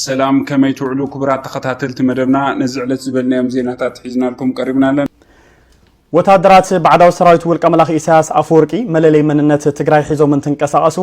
ሰላም ከመይ ትውዕሉ ክቡራት ተኸታተልቲ መደብና ነዚ ዕለት ዝበልናዮም ዜናታት ሒዝናልኩም ቀሪብና ኣለን ወታደራት ባዕዳዊ ሰራዊት ውልቀ መላኺ ኢሳያስ ኣፈወርቂ መለለይ መንነት ትግራይ ሒዞም እንትንቀሳቐሱ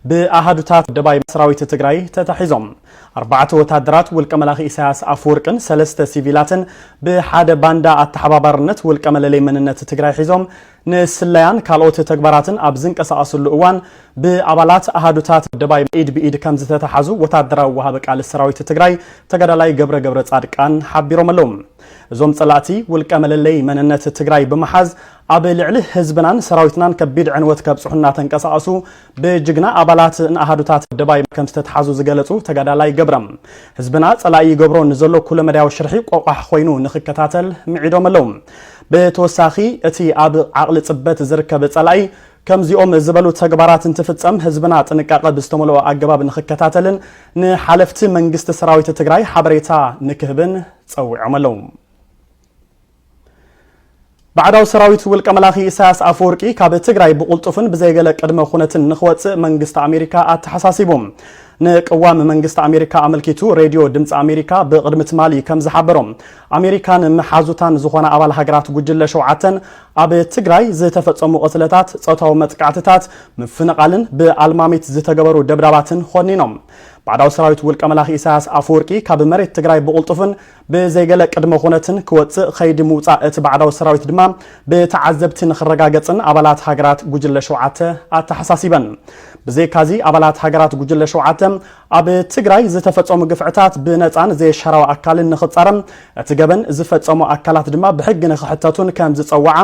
ብኣሃዱታት ደባይ ሰራዊት ትግራይ ተታሒዞም ኣርባዕተ ወታደራት ውልቀ መላኺ ኢሳያስ ኣፈወርቅን ሰለስተ ሲቪላትን ብሓደ ባንዳ ኣተሓባባርነት ውልቀ መለለይ መንነት ትግራይ ሒዞም ንስለያን ካልኦት ተግባራትን ኣብ ዝንቀሳቐስሉ እዋን ብኣባላት ኣሃዱታት ደባይ ኢድ ብኢድ ከምዝተተሓዙ ወታደራዊ ወሃቢ ቃል ሰራዊት ትግራይ ተጋዳላይ ገብረ ገብረፃድቃን ሓቢሮም ኣለው። እዞም ፀላእቲ ውልቀ መለለይ መንነት ትግራይ ብምሓዝ ኣብ ልዕሊ ህዝብናን ሰራዊትናን ከቢድ ዕንወት ከብፅሑ እናተንቀሳቐሱ ብጅግና ኣባላት ን ኣሃዱታት ደባይ ከምዝተትሓዙ ዝገለፁ ተጋዳላይ ገብረም፣ ህዝብና ፀላኢ ይገብሮ ንዘሎ ኩለመዳያዊ ሽርሒ ቆቋሕ ኾይኑ ንኽከታተል ምዒዶም ኣለው። ብተወሳኺ እቲ ኣብ ዓቕሊ ፅበት ዝርከብ ፀላኢ ከምዚኦም ዝበሉ ተግባራት እንትፍፀም ህዝብና ጥንቃቐ ብዝተመልኦ ኣገባብ ንኽከታተልን ንሓለፍቲ መንግስቲ ሰራዊት ትግራይ ሓበሬታ ንክህብን ፀዊዖም ኣለው። ባዕዳዊ ሰራዊት ውልቀ መላኺ ኢሳያስ ኣፈወርቂ ካብ ትግራይ ብቑልጡፍን ብዘይገለ ቅድመ ኩነትን ንክወፅእ መንግስቲ ኣሜሪካ ኣተሓሳሲቡ። ንቅዋም መንግስቲ ኣሜሪካ ኣመልኪቱ ሬድዮ ድምፂ ኣሜሪካ ብቕድሚ ትማሊ ከም ዝሓበሮ ኣሜሪካን መሓዙታን ዝኾና ኣባል ሃገራት ጉጅለ ሸውዓተን ኣብ ትግራይ ዝተፈፀሙ ቅትለታት፣ ፆታዊ መጥቃዕትታት፣ ምፍንቓልን ብኣልማሚት ዝተገበሩ ደብዳባትን ኾኒኖም። ባዕዳዊ ሰራዊት ውልቀ መላኺ ኢሳያስ ኣፈወርቂ ካብ መሬት ትግራይ ብቑልጡፍን ብዘይ ገለ ቅድመ ኹነትን ክወጽእ ኸይዲ ምውጻእ እቲ ባዕዳዊ ሰራዊት ድማ ብተዓዘብቲ ንኽረጋገጽን ኣባላት ሃገራት ጉጅለ ሸውዓተ ኣተሓሳሲበን። ብዘይካዚ ኣባላት ሃገራት ጉጅለ ሸውዓተ ኣብ ትግራይ ዝተፈጸሙ ግፍዕታት ብነጻን ዘየሻራዊ ኣካልን ንኽጻረም እቲ ገበን ዝፈጸሙ ኣካላት ድማ ብሕጊ ንኽሕተቱን ከም ዝጸዋዓ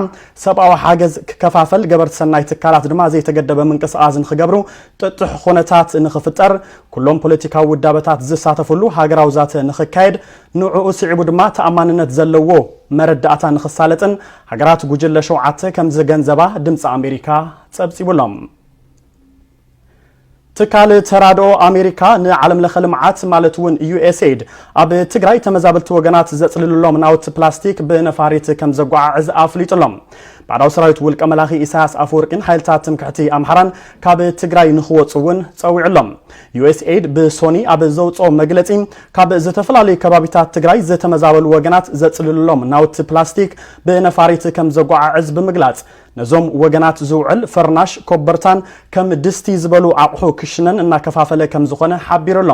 ሰብኣዊ ሓገዝ ክከፋፈል ገበርቲ ሰናይ ትካላት ድማ ዘይተገደበ ምንቅስቓስ ንኽገብሩ ጥጡሕ ኹነታት ንኽፍጠር፣ ኩሎም ፖለቲካዊ ውዳበታት ዝሳተፍሉ ሃገራዊ ዛተ ንኽካየድ፣ ንዕኡ ስዒቡ ድማ ተኣማንነት ዘለዎ መረዳእታ ንኽሳለጥን ሃገራት ጉጅለ ሸውዓተ ከምዝገንዘባ ድምጺ ኣሜሪካ ጸብጺቡ ኣሎ። ትካል ተራድኦ ኣሜሪካ ንዓለም ለኸ ልምዓት ማለት እውን ዩኤስኤድ ኣብ ትግራይ ተመዛበልቲ ወገናት ዘፅልልሎም ናውቲ ፕላስቲክ ብነፋሪት ከም ዘጓዓዕዝ ኣፍሊጡ ኣሎ። ባዕዳዊ ሰራዊት ውልቀ መላኺ ኢሳያስ ኣፈወርቂን ሓይልታት ትምክሕቲ ኣምሓራን ካብ ትግራይ ንኽወፁ እውን ፀዊዑ ኣሎ። ዩኤስኤይድ ብሶኒ ኣብ ዘውፅኦ መግለፂ ካብ ዝተፈላለዩ ከባቢታት ትግራይ ዝተመዛበሉ ወገናት ዘፅልልሎም ናውቲ ፕላስቲክ ብነፋሪት ከም ዘጓዓዕዝ ብምግላፅ ነዞም ወገናት ዝውዕል ፈርናሽ፣ ኮበርታን ከም ድስቲ ዝበሉ ኣቑሑ ክሽነን እናከፋፈለ ከም ዝኾነ ሓቢሩ ኣሎ።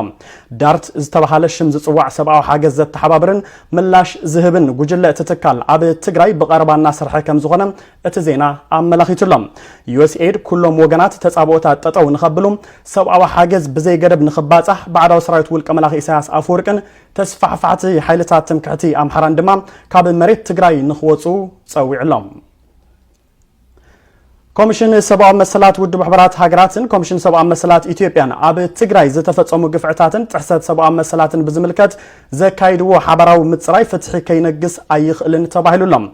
ዳርት ዝተበሃለ ሽም ዝፅዋዕ ሰብኣዊ ሓገዝ ዘተሓባብርን ምላሽ ዝህብን ጉጅለ እቲ ትካል ኣብ ትግራይ ብቐረባ እናሰርሐ ከም ዝኾነ እቲ ዜና ኣመላኺቱ ኣሎ። ዩኤስኤይድ ኩሎም ወገናት ተጻብኦታት ጠጠው ንኸብሉ፣ ሰብኣዊ ሓገዝ ብዘይገደብ ንኽባጻሕ፣ ባዕዳዊ ሰራዊት ውልቀ መላኺ ኢሳያስ ኣፈወርቅን ተስፋሕፋሕቲ ሓይልታት ትምክሕቲ ኣምሓራን ድማ ካብ መሬት ትግራይ ንኽወጹ ጸዊዑ ኣሎ። ኮሚሽን ሰብኣዊ መሰላት ውድብ ሕቡራት ሃገራትን ኮሚሽን ሰብኣዊ መሰላት ኢትዮጵያን ኣብ ትግራይ ዝተፈጸሙ ግፍዕታትን ጥሕሰት ሰብኣዊ መሰላትን ብዝምልከት ዘካይድዎ ሓባራዊ ምጽራይ ፍትሒ ከይነግስ ኣይኽእልን ተባሂሉ ኣሎ።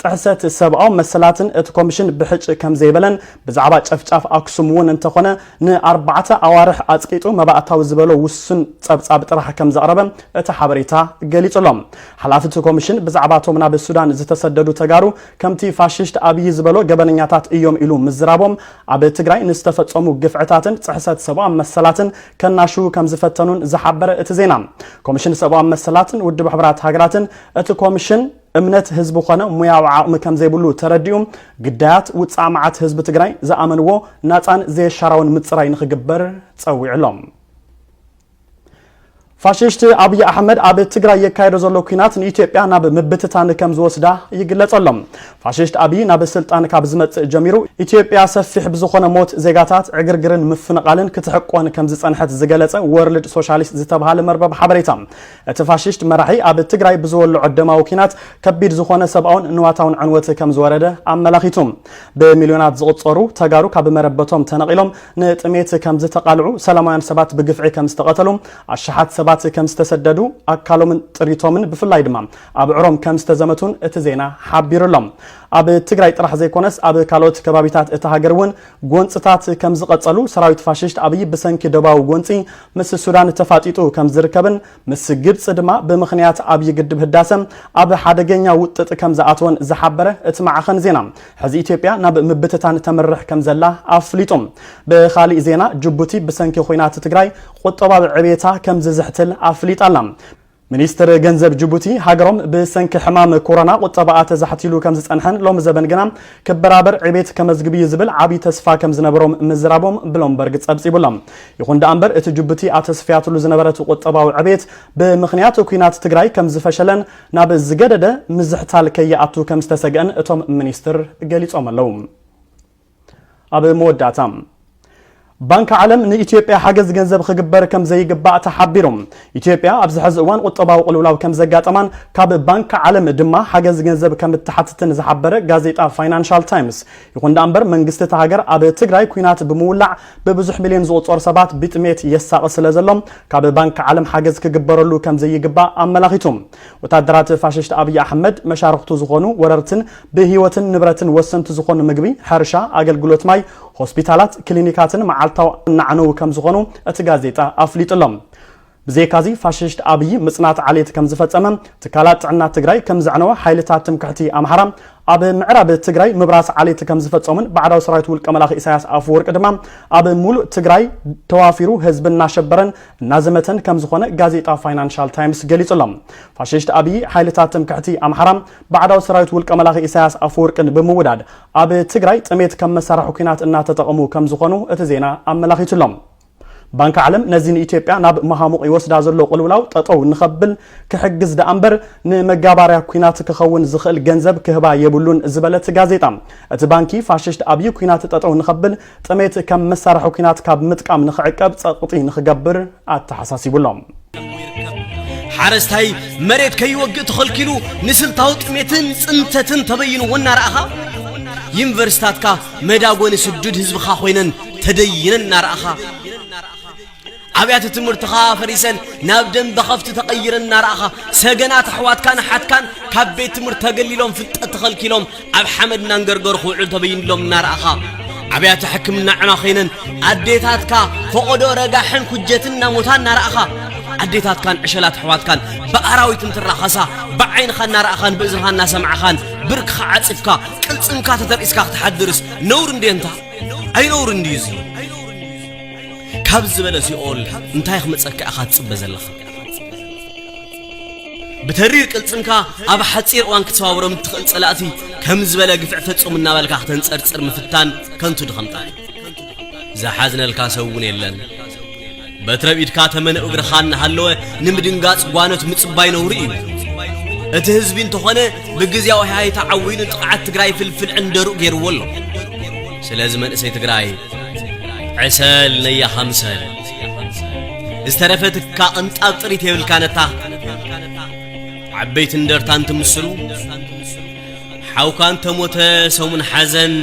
ጥሕሰት ሰብኣዊ መሰላትን እቲ ኮሚሽን ብሕጭ ከምዘይበለን ብዛዕባ ጨፍጫፍ ኣክሱም እውን እንተኾነ ንኣርባዕተ ኣዋርሕ ኣፅቂጡ መባእታዊ ዝበሎ ውሱን ፀብፃብ ጥራሕ ከምዘቕረበ እቲ ሓበሬታ ገሊፁ ኣሎ። ሓላፊ እቲ ኮሚሽን ብዛዕባ እቶም ናብ ሱዳን ዝተሰደዱ ተጋሩ ከምቲ ፋሽስት ኣብዪ ዝበሎ ገበነኛታት እዮም ኢሉ ምዝራቦም ኣብ ትግራይ ንዝተፈፀሙ ግፍዕታትን ፅሕሰት ሰብኣዊ መሰላትን ከናሽዉ ከምዝፈተኑን ዝሓበረ እቲ ዜና ኮሚሽን ሰብኣዊ መሰላትን ውድብ ሕቡራት ሃገራትን እቲ ኮሚሽን እምነት ህዝቢ ኾነ ሙያዊ ዓቕሚ ከምዘይብሉ ተረዲኡ ግዳያት ውፃእ መዓት ህዝቢ ትግራይ ዝኣመንዎ ናፃን ዘየሻራውን ምፅራይ ንኽግበር ፀዊዑ ኣሎ። ፋሽሽቲ ኣብይ ኣሕመድ ኣብ ትግራይ የካየዶ ዘሎ ኩናት ንኢትዮጵያ ናብ ምብትታን ከም ዝወስዳ ይግለጸ ኣሎ። ፋሽሽት ኣብይ ናብ ስልጣን ካብ ዝመጽእ ጀሚሩ ኢትዮጵያ ሰፊሕ ብዝኾነ ሞት ዜጋታት ዕግርግርን ምፍንቓልን ክትሕቆን ከም ዝጸንሐት ዝገለጸ ወርልድ ሶሻሊስት ዝተብሃለ መርበብ ሓበሬታ እቲ ፋሽስት መራሒ ኣብ ትግራይ ብዝወልዖ ደማዊ ኲናት ከቢድ ዝኾነ ሰብኣውን ንዋታውን ዕንወት ከምዝወረደ ኣመላኺቱ። ብሚልዮናት ዝቑፀሩ ተጋሩ ካብ መረበቶም ተነቒሎም ንጥሜት ከምዝተቓልዑ፣ ሰላማውያን ሰባት ብግፍዒ ከምዝተቐተሉ፣ ኣሽሓት ሰባት ከምዝተሰደዱ፣ ኣካሎምን ጥሪቶምን ብፍላይ ድማ ኣብዕሮም ከምዝተዘመቱን እቲ ዜና ሓቢሩ ኣሎ። ኣብ ትግራይ ጥራሕ ዘይኮነስ ኣብ ካልኦት ከባቢታት እታ ሃገር እውን ጎንፅታት ከምዝቐፀሉ ሰራዊት ፋሽስት ኣብይ ብሰንኪ ዶባዊ ጎንፂ ምስ ሱዳን ተፋጢጡ ከም ዝርከብን ምስ ግብጺ ድማ ብምኽንያት ዓብዪ ግድብ ህዳሰ ኣብ ሓደገኛ ውጥጥ ከም ዝኣተወን ዝሓበረ እቲ ማዕኸን ዜና፣ ሕዚ ኢትዮጵያ ናብ ምብትታን ተምርሕ ከም ዘላ ኣፍሊጡ። ብኻሊእ ዜና ጅቡቲ ብሰንኪ ኹናት ትግራይ ቁጠባዊ ዕብየታ ከም ዝዝሕትል ኣፍሊጣ ኣላ። ሚኒስትር ገንዘብ ጅቡቲ፣ ሃገሮም ብሰንኪ ሕማም ኮሮና ቁጠባኣ ተዛሕቲሉ ከምዝጸንሐን ሎሚ ዘበን ግና ክበራበር ዕቤት ከመዝግብ'ዩ ዝብል ዓቢ ተስፋ ከምዝነበሮም ምዝራቦም ብሎምበርግ ጸብጺቡ'ሎ። ይኹን ደኣምበር እቲ ጅቡቲ ኣተስፍያትሉ ዝነበረት ቁጠባዊ ዕቤት ብምኽንያት ኲናት ትግራይ ከምዝፈሸለን ናብ ዝገደደ ምዝሕታል ከይኣቱ ከምዝተሰግአን እቶም ሚኒስትር ገሊጾም ኣለው። ኣብ መወዳእታ ባንኪ ዓለም ንኢትዮጵያ ሓገዝ ገንዘብ ክግበር ከም ዘይግባእ ተሓቢሩ። ኢትዮጵያ ኣብዚ ሕዚ እዋን ቁጠባዊ ቅልውላው ከም ዘጋጠማን ካብ ባንኪ ዓለም ድማ ሓገዝ ገንዘብ ከም እትሓትትን ዝሓበረ ጋዜጣ ፋይናንሻል ታይምስ፣ ይኹን ደኣ እምበር መንግስቲ እታ ሃገር ኣብ ትግራይ ኲናት ብምውላዕ ብብዙሕ ሚልዮን ዝቑጸሩ ሰባት ብጥሜት የሳቒ ስለ ዘሎ ካብ ባንኪ ዓለም ሓገዝ ክግበረሉ ከም ዘይግባእ ኣመላኺቱ። ወታደራት ፋሽስት ኣብይ ኣሕመድ መሻርኽቱ ዝኾኑ ወረርትን ብህይወትን ንብረትን ወሰንቲ ዝኾኑ ምግቢ፣ ሕርሻ፣ ኣገልግሎት ማይ፣ ሆስፒታላት፣ ክሊኒካትን መዓልታዊ እናዕነዉ ከምዝኾኑ እቲ ጋዜጣ ኣፍሊጡ ኣሎ። ብዘይካ'ዚ ፋሽስት ኣብይ ምፅናት ዓሌት ከምዝፈፀመ፣ ትካላት ጥዕና ትግራይ ከምዘዕነወ፣ ሓይልታት ትምክሕቲ ኣምሓራ ኣብ ምዕራብ ትግራይ ምብራስ ዓሌት ከምዝፈፀሙን ባዕዳዊ ሰራዊት ውልቀ መላኺ ኢሳያስ ኣፈወርቂ ድማ ኣብ ሙሉእ ትግራይ ተዋፊሩ ህዝቢ እናሸበረን እናዘመተን ከምዝኾነ ጋዜጣ ፋይናንሻል ታይምስ ገሊፁ ኣሎ። ፋሽስት ኣብይ ሓይልታት ትምክሕቲ ኣምሓራ ባዕዳዊ ሰራዊት ውልቀ መላኺ ኢሳያስ ኣፈወርቅን ብምውዳድ ኣብ ትግራይ ጥሜት ከም መሳርሒ ኩናት እናተጠቐሙ ከምዝኾኑ እቲ ዜና ኣመላኺቱ ኣሎ። ባንኪ ዓለም ነዚ ንኢትዮጵያ ናብ መሃሙቕ ይወስዳ ዘሎ ቕልውላው ጠጠው ንኸብል ክሕግዝ ደኣ እምበር ንመጋባርያ ኩናት ክኸውን ዝኽእል ገንዘብ ክህባ የብሉን ዝበለ እቲ ጋዜጣ እቲ ባንኪ ፋሽስት ኣብዪ ኩናት ጠጠው ንኸብል ጥሜት ከም መሳርሒ ኩናት ካብ ምጥቃም ንኽዕቀብ ጸቕጢ ንኽገብር ኣተሓሳሲቡ ኣሎ። ሓረስታይ መሬት ከይወግእ ተኸልኪሉ ንስልታዊ ጥሜትን ፅንተትን ተበይንዎ እናረኣኻ ዩኒቨርሲታትካ መዳጎኒ ስዱድ ህዝብኻ ኮይነን ተደይነን እናረኣኻ ኣብያተ ትምህርትኻ ኣፈሪሰን ናብ ደም በኸፍቲ ተቐይረን እናረኣኻ ሰገናት ኣሕዋትካን ኣሓትካን ካብ ቤት ትምህርቲ ተገሊሎም ፍልጠት ተኸልኪሎም ኣብ ሓመድ እናንገርገሩ ክውዕሉ ተበይንሎም እናረኣኻ ኣብያተ ሕክምና ዕማ ኮይነን ኣዴታትካ ፈቐዶ ረጋሕን ኩጀትን እናሞታ እናረኣኻ ኣዴታትካን ዕሸላት ኣሕዋትካን ብኣራዊት እንትራኸሳ ብዓይንኻ እናረእኻን ብእዝንኻ እናሰማዕኻን ብርክኻ ዓፂፍካ ቅልፅምካ ተተርኢስካ ክትሓድርስ ነውር እንዴ እንታ ኣይነውር እንድዩ እዙ ካብ ዝበለ ሲኦል እንታይ ክመጸካ ኢኻ ትጽበ ዘለኻ ብተሪር ቅልጽምካ ኣብ ሓጺር እዋን ክትሰባብሮም እትኽእል ጸላእቲ ከም ዝበለ ግፍዕ ፈጹም እናበልካ ክተንጸርጽር ምፍታን ከንቱ ድኸምታ ዝሓዝነልካ ሰብ እውን የለን በትረ ቢድካ ተመነ እግርኻ እናሃለወ ንምድንጋጽ ጓኖት ምጽባይ ነውሪ እዩ እቲ ህዝቢ እንተኾነ ብግዜያዊ ሃይታ ዓዊኑ ጥቕዓት ትግራይ ፍልፍል ዕንደሩ ገይርዎ ኣሎ ስለዚ መንእሰይ ትግራይ ዕሰል ነያ ሃምሰል ዝተረፈትካ ቅንጣብ ጥሪት የብልካነታ ዓበይቲ እንደርታ እንትምስሉ ሓውካ እንተሞተ ሰሙን ሓዘን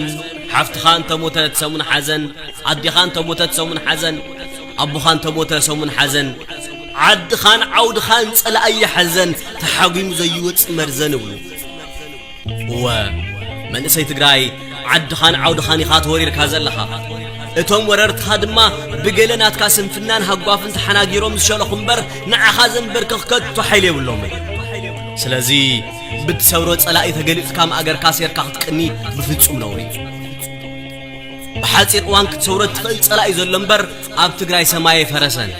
ሓፍትኻ እንተሞተት ሰሙን ሓዘን ኣዴኻ እንተሞተት ሰሙን ሓዘን ኣቦኻ እንተሞተ ሰሙን ሓዘን ዓድኻን ዓውድኻን ጸላእይ ሓዘን ተሓጒሙ ዘይወጽእ መርዘን እብሉ እወ መንእሰይ ትግራይ ዓድኻን ዓውድኻን ኢኻ ተወሪርካ ዘለኻ እቶም ወረርትኻ ድማ ብገለ ናትካ ስንፍናን ሃጓፍን ተሓናጊሮም ዝሸለኹ እምበር ንዓኻ ዘንበርክኽ ከቶ ሓይሊ የብሎምን ስለዚ ብትሰብሮ ጸላኢ ተገሊጽካ ማእገርካ ሴርካ ክትቅኒ ብፍጹም ነውሪ እዩ ብሓፂር እዋን ክትሰውሮ እትኽእል ጸላኢ ዘሎ እምበር ኣብ ትግራይ ሰማይ ፈረሰን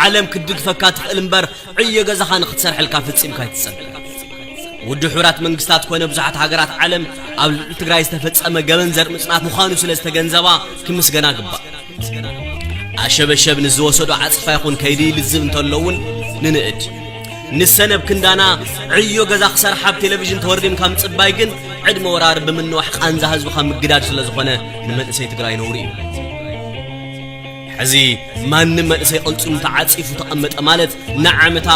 ዓለም ክትድግፈካ ትኽእል እምበር ዕዮ ገዛኻ ንክትሰርሐልካ ፍጺምካ ኣይትጸበ። ውድብ ሕቡራት መንግስታት ኮነ ብዙሓት ሃገራት ዓለም ኣብ ልዕሊ ትግራይ ዝተፈጸመ ገበን ዘር ምጽናት ምዃኑ ስለ ዝተገንዘባ ክምስገና ግባእ። ኣሸበሸብ ንዝወሰዶ ዓጽፋ ይኹን ከይዲ ልዝብ እንተሎ እውን ንንእድ ንሰነብ ክንዳና ዕዮ ገዛ ክሰርሓ ኣብ ቴሌቭዥን ተወርዲምካ ምጽባይ ግን ዕድመ ወራር ብምንዋሕ ቃንዛ ህዝብኻ ምግዳድ ስለ ዝኾነ ንመንእሰይ ትግራይ ነውሪ እዩ ሕዚ ማንም መንእሰይ ቅልጽሙ ተዓጺፉ ተቐመጠ ማለት ንዓመታ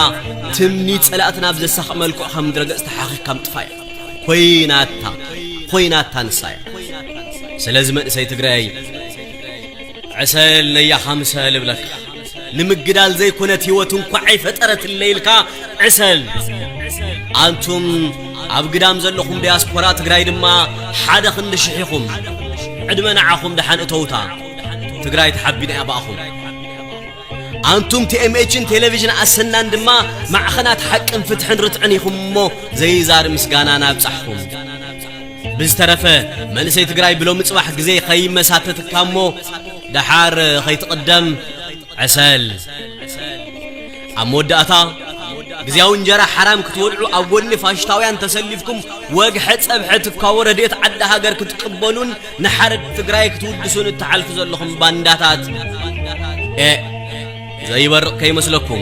ትምኒት ጸላእትና ኣብ ዘሳኽ መልክዑ ካብ ምድረገጽ ተሓኺኽካ ምጥፋእ እያ ኮይናታ ኮይናታ ንሳ እያ ስለዚ መንእሰይ ትግራይ ዕሰል ነያ ኻምሰል እብለካ ንምግዳል ዘይኮነት ህይወት እንኳ ኣይፈጠረት እለይልካ ዕሰል ኣንቱም ኣብ ግዳም ዘለኹም ዲያስፖራ ትግራይ ድማ ሓደ ክንዲ ሽሒኹም ዕድመ ንዓኹም ደሓን እተውታ ትግራይ ተሓቢና እያ ብኣኹም ኣንቱም ቲኤምኤችን ቴሌቪዥን ኣሰናን ድማ ማዕኸናት ሓቅን ፍትሕን ርትዕን ኢኹም እሞ ዘይዛር ምስጋና ናብጻሕኹም ብዝተረፈ መንእሰይ ትግራይ ብሎሚ ጽባሕ ግዜ ከይመሳተትካ እሞ ደሓር ኸይትቕደም ዕሰል ኣብ መወዳእታ ግዜያዊ እንጀራ ሓራም ክትወልዑ ኣብ ጎኒ ፋሽታውያን ተሰሊፍኩም ወግሐ ጸብሐ ትካቦ ረድኤት ዓዲ ሃገር ክትቅበሉን ንሓረድ ትግራይ ክትውድሱን እትሓልፉ ዘለኹም ባንዳታት ኤእ ዘይበርቕ ከይመስለኩም